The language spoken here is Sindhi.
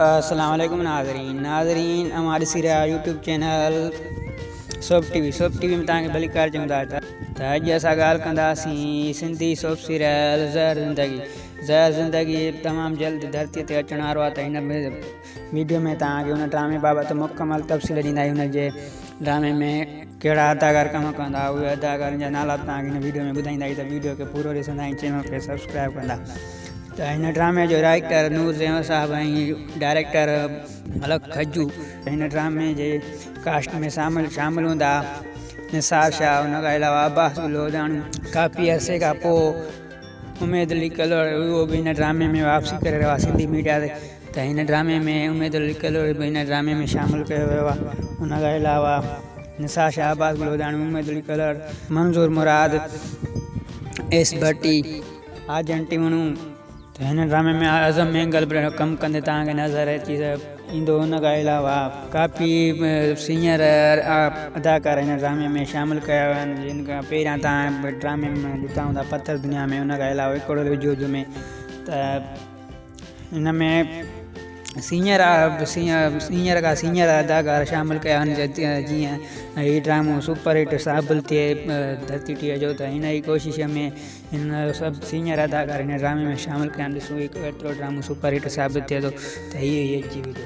السلام عليڪم ناظرين ناظرين اوهان ڏسي رهيا YouTube channel soap TV soap TV ۾ توهان کي ڀلي ڪار چوندا ته ته اڄ اسان ڳالهه ڪنداسين سنڌي سوپ سيريل زهر زندگي زهر زندگي تمام جلد ڌرتي تي اچڻ وارو آهي ته هن ويڊيو ۾ تان کي ان ڊرامي بابت مڪمل تفصيل ڏيندا آهيون هن جي ڊرامي ۾ ڪهڙا اداڪار ڪم ڪندا اهي اداڪارن جا نالا به توهان کي هن ويڊيو ۾ ٻڌائيندا اهي ته ويڊيو کي پورو ڏسندا ۽ چينل کي سبسڪرائب ڪندا ته هن ڊرامي جو رائيٽر نور زيون صاحب ۽ ڊائريڪٽر ملڪ کجو هن ڊرامي جي ڪاسٽ ۾ شامل شامل هوندا نثار شاهه ان کان علاوه عباس گل هوجاڻو ڪافي عرصي کان پوء اميد علي ڪلهوڙو اهو به هن ڊرامي ۾ واپسي ڪري رهيو آهي سنڌي ميڊيا تي ته هن ڊرامي ۾ اميد لڪل به هن ڊرامي ۾ شامل ڪيو ويو آهي ان کان علاوه نثار شهباز گلوڌاڻي اميد لڪل منظور مراد ايس ڀٽي آجن ٽيوڻو ته هن ڊرامي ۾ اعظم مينگل به ڪم ڪندي توهان کي نظر اچي ايندو ان کان علاوه ڪافي سينئر اداڪار هن ڊرامي ۾ شامل ڪيا ويا آهن جن کان پهريان توهان ڊرامي ۾ ڏٺا هوندا پٿر دنيا ۾ ان کان علاوه اڪوڙو وجود ۾ ته ان ۾ سينئر سينئر کان سينئر اداڪار شامل ڪيا آهن جيئن هي ڊرامو سپر هٽ ثابل ٿئي ڌرتي ٽيهه جو ته هن ئي ڪوشش ۾ هن سڀ سينئر اداڪار هن ڊرامي ۾ شامل ڪيا آهن ڏسون هي ڪيترو ڊرامو سپر هٽ ثابت ٿئي ٿو ته هي هي جي ويندو